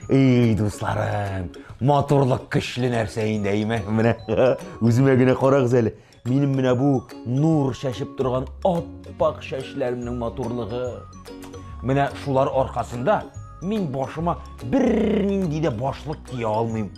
Эй, дусларым, матурлык көчле нәрсә инде, әйме? Менә үземә генә карагыз әле. Минем менә бу нур шәшеп торган аппак шәшләремнең матурлыгы. Менә шулар аркасында мин башыма бернинди дә башлык кия алмыйм.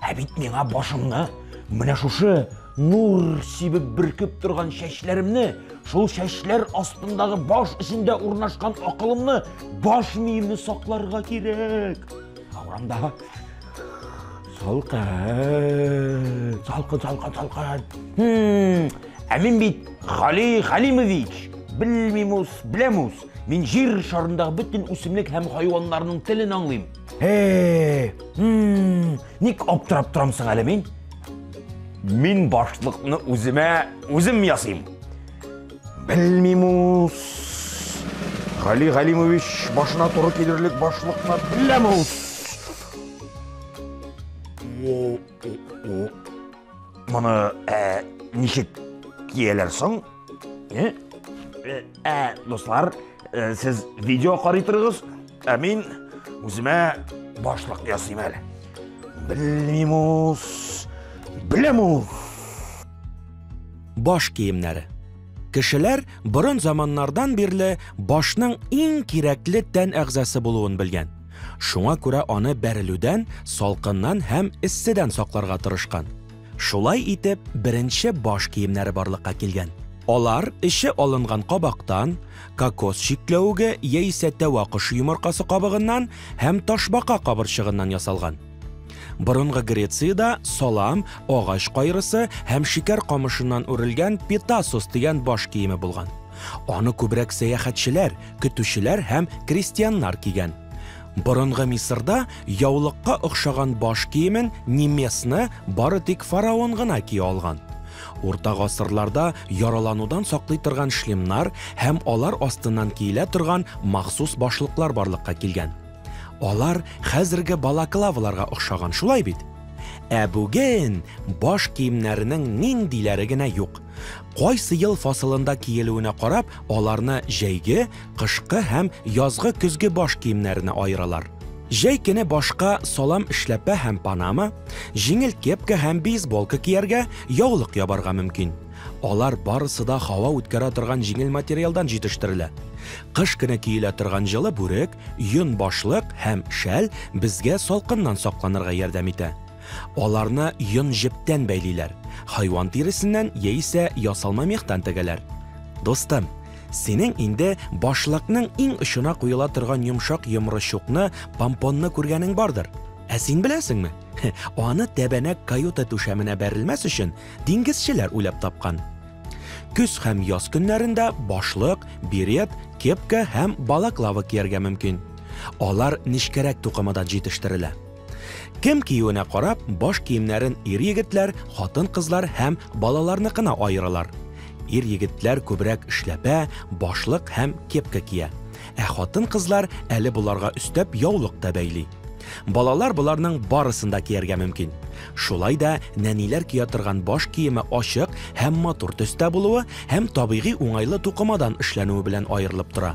Ә бит миңа башымны, менә шушы нур сибеп бөркеп торган чәчләремне, шул чәчләр астындагы баш эчендә урнашкан акылымны, баш миемне сакларга кирәк. Аурамда салкын, салкын, салкын, салкын. Хм, ә мин бит Хали Халимович, белмимус, белемус. Мин җир шарындагы бөтен үсемлек һәм хайваннарның телен аңлыйм. Эй, ник аптырап торам соң әле мин? Мин башлыкны үземә үзем ясыйм. Белмим ус. Гали Галимович башына туры килерлек башлыкны беләм ус. Моны ничек кияләр соң? Э? Э, ә, дуслар, э, сез видео карый торыгыз, ә мин үземә башлык ясыйм әле. Белмим ус, беләм Баш киемнәре. Кешеләр борын заманнардан бирле башның иң кирәкле тән әгъзасы булуын белгән. Шуңа күрә аны бәрелүдән, салкыннан һәм эсседән сакларга тырышкан. Шулай итеп, беренче баш киемнәре барлыкка килгән. Алар эче алынган кабактан, кокос чикләвеге яисә тәвә кошы йомыркасы кабыгыннан һәм ташбака кабырчыгыннан ясалган. Борынгы Грециядә салам, агач кайрысы һәм шикәр камышыннан үрелгән петасос дигән баш киеме булган. Аны күбрәк сәяхәтчеләр, көтүчеләр һәм крестьяннар кигән. Борынгы Мисырда яулыкка охшаган баш киемен немесны бары тик фараон гына кия алган. Урта гасырларда яраланудан саклый торган шлемнар һәм алар астыннан киелә торган махсус башлыклар барлыкка килгән. Алар хәзерге балаклаваларга охшаган, шулай бит? Ә бүген баш киемнәренең ниндиләре генә юк! Кайсы ел фасылында киелүенә карап, аларны җәйге, кышкы һәм язгы көзге баш киемнәренә аералар. Җәй көне башка салам эшләпә һәм панама, җиңел кепка һәм бейсболка кияргә, яулык ябарга мөмкин. Алар барысы да һава үткәрә торган җиңел материалдан җитештерелә. Кыш көне киелә торган җылы бүрек, йон башлык һәм шәл безгә салкыннан сакланырга ярдәм итә. Аларны йон-җептән бәйлиләр, хайван тиресеннән яисә ясалма мехтан тегәләр. Дустым, синең инде башлыкның иң очына куела торган йомшак йомры-чукны, помпонны күргәнең бардыр. Ә син беләсеңме? Аны тәбәнәк каюта түшәменә бәрелмәс өчен диңгезчеләр уйлап тапкан. Көз һәм яз көннәрендә башлык, берет, кепка һәм балаклава кияргә мөмкин. Алар нечкәрәк тукымадан җитештерелә. Кем киюенә карап, баш киемнәрен ир-егетләр, хатын-кызлар һәм балаларныкына аералар. Ир-егетләр күбрәк эшләпә, башлык һәм кепка кия. Ә хатын-кызлар әле боларга өстәп яулык та бәйли. Балалар боларның барысын да кияргә мөмкин. Шулай да нәниләр кия торган баш киеме ачык һәм матур төстә булуы һәм табигый уңайлы тукымадан эшләнүе белән аерылып тора.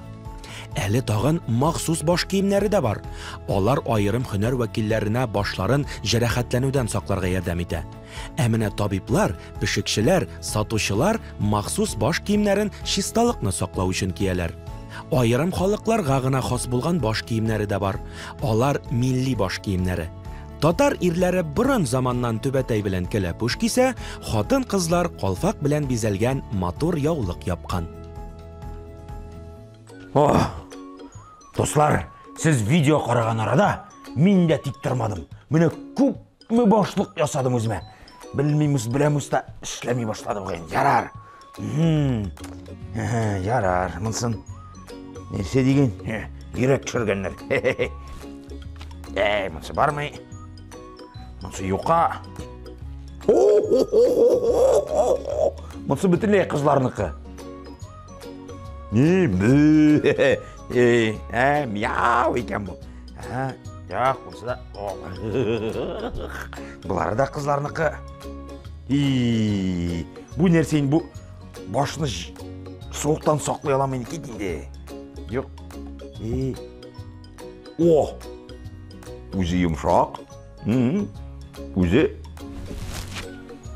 Әле тагын махсус баш киемнәре дә бар. Алар аерым һөнәр вәкилләренә башларын җәрәхәтләнүдән сакларга ярдәм итә. Ә менә табиблар, пешекчеләр, сатучылар махсус баш киемнәрен чисталыкны саклау өчен кияләр. Аерым халыкларга гына хас булган баш киемнәре дә бар. Алар милли баш киемнәре. Татар ирләре борын заманнан түбәтәй белән кәләпүш кисә, хатын-кызлар калфак белән бизәлгән матур яулык япкан. О, дуслар, сез видео караган арада мин дә тик тормадым. Менә күпме башлык ясадым үземә. Белмимез, беләмез дә эшләми башлады бүген. Ярар. Ярар, монсын. Нәрсә дигән? Йөрәк төшергәннәр. Әй, монсы бармый. Монсы юка. Монсы бөтенләй кызларныкы. Ни, бе. Эй, ә, мяу икән бу. Ә, як, монсы да. Булары да кызларныкы. И, бу нәрсә инде бу? Башны суыктан саклый аламын икән инде. Юк. И, О! Үзе йомшак. Үзе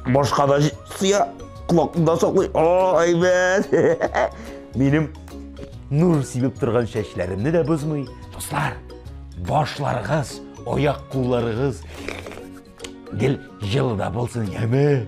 башка да сыя, колакында саклый. О, әйбәт! Минем нур сибеп торган чәчләремне дә бозмый. Дуслар, башларыгыз, аяк кулларыгыз гел җылы да булсын, яме!